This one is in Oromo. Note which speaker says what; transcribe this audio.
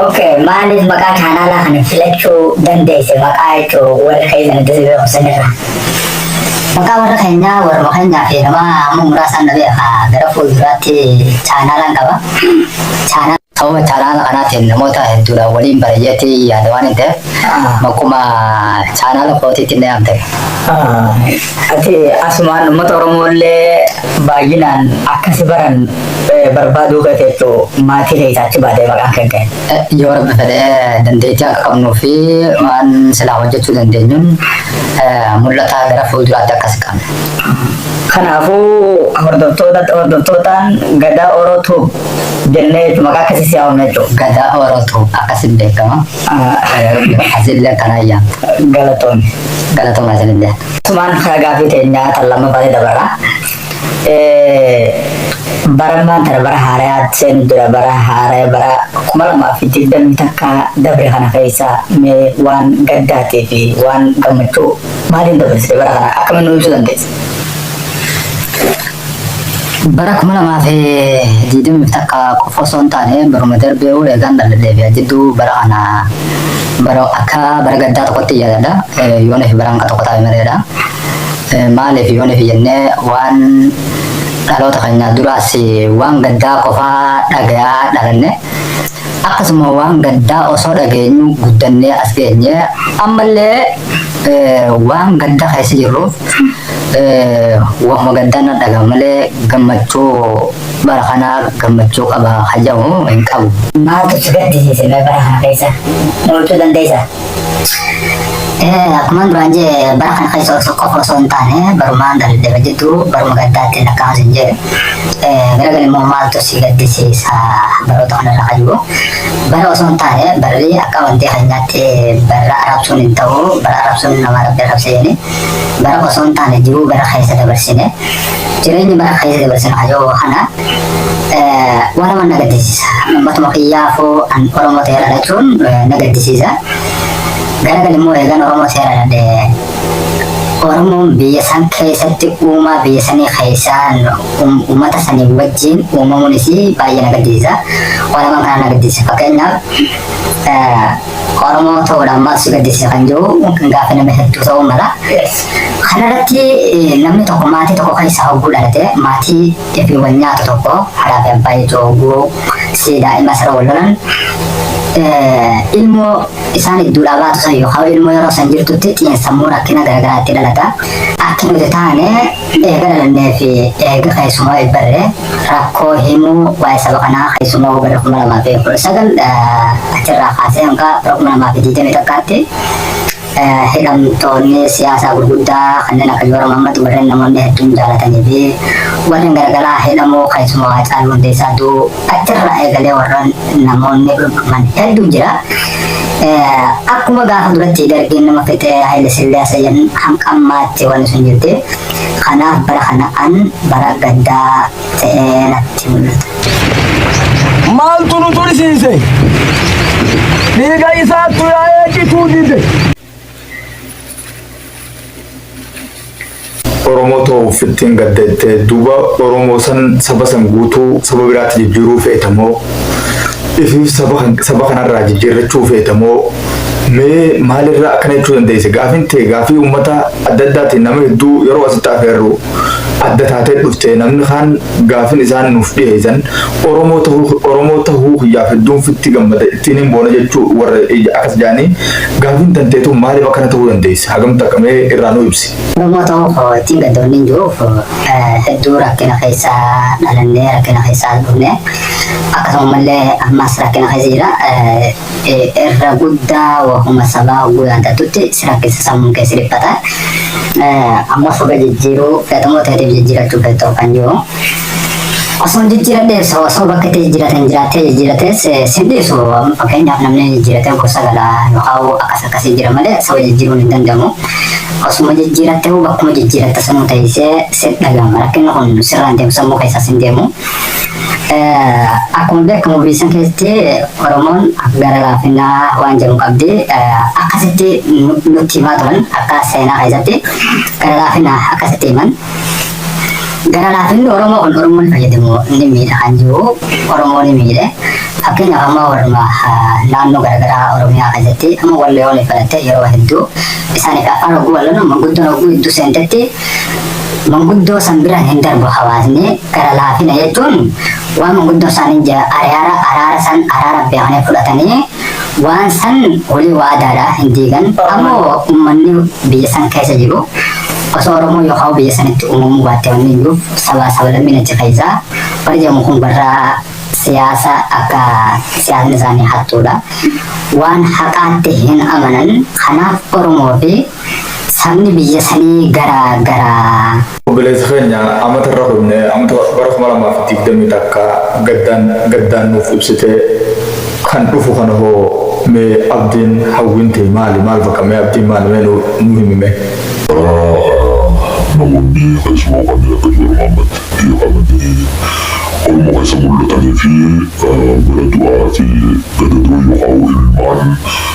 Speaker 1: Okay, maaliif maqaa chaanaalaa kana filachuu dandeesse maqaa jechuun warra keessan itti siree kusanirra. Maqaa warra keenyaa warra keenyaa fi nama amma muraasaan na beeka gara fuulduraatti chaanaalaan qaba. Chaanaa Sababa chaanaala kanaatiin namoota hedduudhaan waliin bareeyyatti yaada waan hin ta'eef bakkuma chaanaala kootiitti illee amte.
Speaker 2: ati asumaan uummata Oromoo illee baay'inaan akkasi baran barbaaduu gateettu maatii keessa achi baatee maqaan kan ka'e. Yoo rabbi fedhe dandeettii akka qabnuu fi waan silaa hojjechuu dandeenyuun mul'ataa gara fuulduraatti akkas qabna. Kanaafuu hordoftoota hordoftootaan gadaa Oro Tube jennee jechuun maqaa akkasii si haamna jechuudha. Gadaa Oro Tube akkasiin beekama. Asillee kana ayyaanta. Galatoonni. Galatooma asillee. Sumaan gaaffii teenyaa tan lammaffaatti dabarra. barammaan tana bara haarayaa seenu dura bara haaraya bara kuma lamaa fi digdamii takka dabre kana keessa mee waan gaddaatii fi waan gammachuu maaliin dabarsite bara kana akkamiin nu ibsuu dandeessa? bara kuma lamaa fi digdamii takka qofa osoo hin taane baruma darbee ol eegaan dhaladheebi'a jidduu bara kana bara akka bara gaddaa tokkotti yaadadha yoona fi baraan tokko taa'e mareedha. Maaliif yooniif jennee waan dhaloota keenyaa duraas waan gaddaa qofaa dhagayaa dhalanne akkasuma waan gaddaa osoo dhageenyu guddannee as geenye ammallee waan gadda keessa jirruuf waanuma gaddaa na dhagama malee gammachuu bara kanaa gammachuu qaba hajamu hin qabu. Maaltu si gaddisiise
Speaker 1: mee bara kana keessa? Mo'achuu dandeessaa? Akkuma duraan jee bara kana keessa osoo qofa osoo hin taane barumaan darbe jidduu baruma gaddaatti lakkaa'amas hin jee gara gali immoo maaltu si gaddisiisa baroota kana irraa jiru bara osoo hin taane barri akka wanti keenyaatti bara arabsuun hin ta'u bara arabsuun nama rabbi arabse jedhani bara osoo hin taane jiruu bara keessa dabarsine jireenyi bara keessa dabarsine hajoo kana waan nama na gaddisiisa. Ummatuma kiyyaafuu an Oromoo ta'ee dhalachuun na gaddisiisa. Gara gali immoo eegan Oromoo ta'ee dhaladhe Oromoon biyya san keessatti uumaa biyya sanii keessaan uummata sanii wajjin uumamuun isii baay'ee na gaddisiisa. Waan lamaan kana na gaddisiisa. Fakkeenyaaf Oromoo ta'uudhaan maal si gaddisiisa kan jiru gaafa nama hedduu ta'uu mala. Kanarratti namni tokko maatii tokko keessaa hogguu dhalate maatii Deebii wal nyaatu tokko haadhaa fi abbaa jechuun hogguu si daa'ima sara wal lolan ilmoo isaan idduudhaa baatu san yookaan ilmoo yeroo san jirtutti xiinsammuu rakkina garaagaraa itti dhalata. Akka nuti taane eega dhalannee fi eega keessumaa eebbarre rakkoo himuu waa'ee saba kanaa keessumaa bara kuma lamaa fi kudha sagal achirraa kaasee hanga bara kuma lamaa fi digdamii tokkotti hidhamtoonni siyaasaa gurguddaa kanneen akka Joora Mammad warreen namoonni hedduun jaalatanii fi warreen garagaraa hidhamuu keessumaa Haacaaluu Hundeessaa du'u achirraa eegalee warreen namoonni dhudhuman hedduun jira. Akkuma gaafa duratti dargiin nama fixee Haile Sillaasee jedhan hamqammaatti wanni sun jirti. Kanaaf bara kana an bara gaddaa
Speaker 3: Maaltu nu tursiise? Dhiiga isaattu yaa'ee cituu dide.
Speaker 4: Oromoo too uffittiin gadda jettee duuba Oromoo san saba san guutuu saba biraatti jijjiiruu feeta moo ifiif saba kan- saba kanarraa jijjiirrachuu feeta moo mee maalirraa akkana jechuu dandeesse gaafiin tee gaafii uummata adda addaatiin nama hedduu yeroo asitti afeerru adda taatee dhufte namni kaan gaafin isaan nuuf dhiheessan Oromoo tahuu Oromoo tahuu kiyyaaf hedduun fitti gammada ittiin hin boona jechuu warra akkas jaanii gaafin tantee tun maaliif akkana tahuu dandeesse hagam takka mee irraa nu ibsi. Oromoo ta'uu koo ittiin
Speaker 1: gaddoonni hin jiruuf hedduu rakkina keessa dhalannee rakkina keessa dhufne akkasuma illee ammas rakkina keessa jira irra guddaa wahuma sabaa hogguu yaadattutti si rakkisa sammuun kee si dhiphata. Amma soba jijjiiruu feetamoo ta'eef jijjiirachuu feetoo kan jiru. Osoo jijjiiradhees osoo bakka itti jijjiiratan jiraattee jijjiiratees sin dhiisu fakkeenyaaf namni jijjiiratee gosa gala yookaan akkas akkas jijjiira malee soba jijjiiruun hin danda'amu. Osuma jijjiirattee bakkuma jijjiiratte sanuu ta'isee si dhaga'ama rakkinni kun sirraan deemu sammuu keessaa sin deemu. Akkuma beekamu biisan keessatti Oromoon gara laafinaa waan jedhu qabdi. Akkasitti nutti himaa turan akka seenaa keessatti gara laafinaa akkasitti himan. Gara laafinni Oromoo kun Oromoon fayyadamu ni miidha kan jiru Oromoo ni miidhe. Fakkeenyaaf amma warra naannoo garaagaraa Oromiyaa keessatti amma warri yoo fudhatte yeroo hedduu isaaniif afaan oguu walloon manguddoon oguu hedduu seentetti Manguddoo san bira hin darbu hawaasni gara laafina jechuun waan manguddoo isaanii ja ariara araara san araara beekanii fudhatanii waan san walii waadaadha hin diigan ammoo ummanni biyya san keessa jiru osoo oromoo yookaan biyya sanitti uumamuu baatte wanni iyyuuf sabaa sablammiin achi keessa warri jedhamu kun warra siyaasa akka siyaasni isaanii hattuudha waan haqaatti hin amanan kanaaf oromoo fi Sabni biyya sanii gara gara. Obboleessa keenya
Speaker 4: amata irra kunne amata bara kuma lamaa fi digdamii takka gaddaan gaddaan nuuf ibsitee kan dhufu kana hoo mee abdiin hawwiin tee maali maal bakka mee abdiin maali mee nu nu himi mee. Karaa
Speaker 5: namoonni keessumaa kanneen akka Juwar Mohammed jedhamanii Oromoo keessa mul'atanii fi gara du'aa fi gadadoo yookaan imimmaan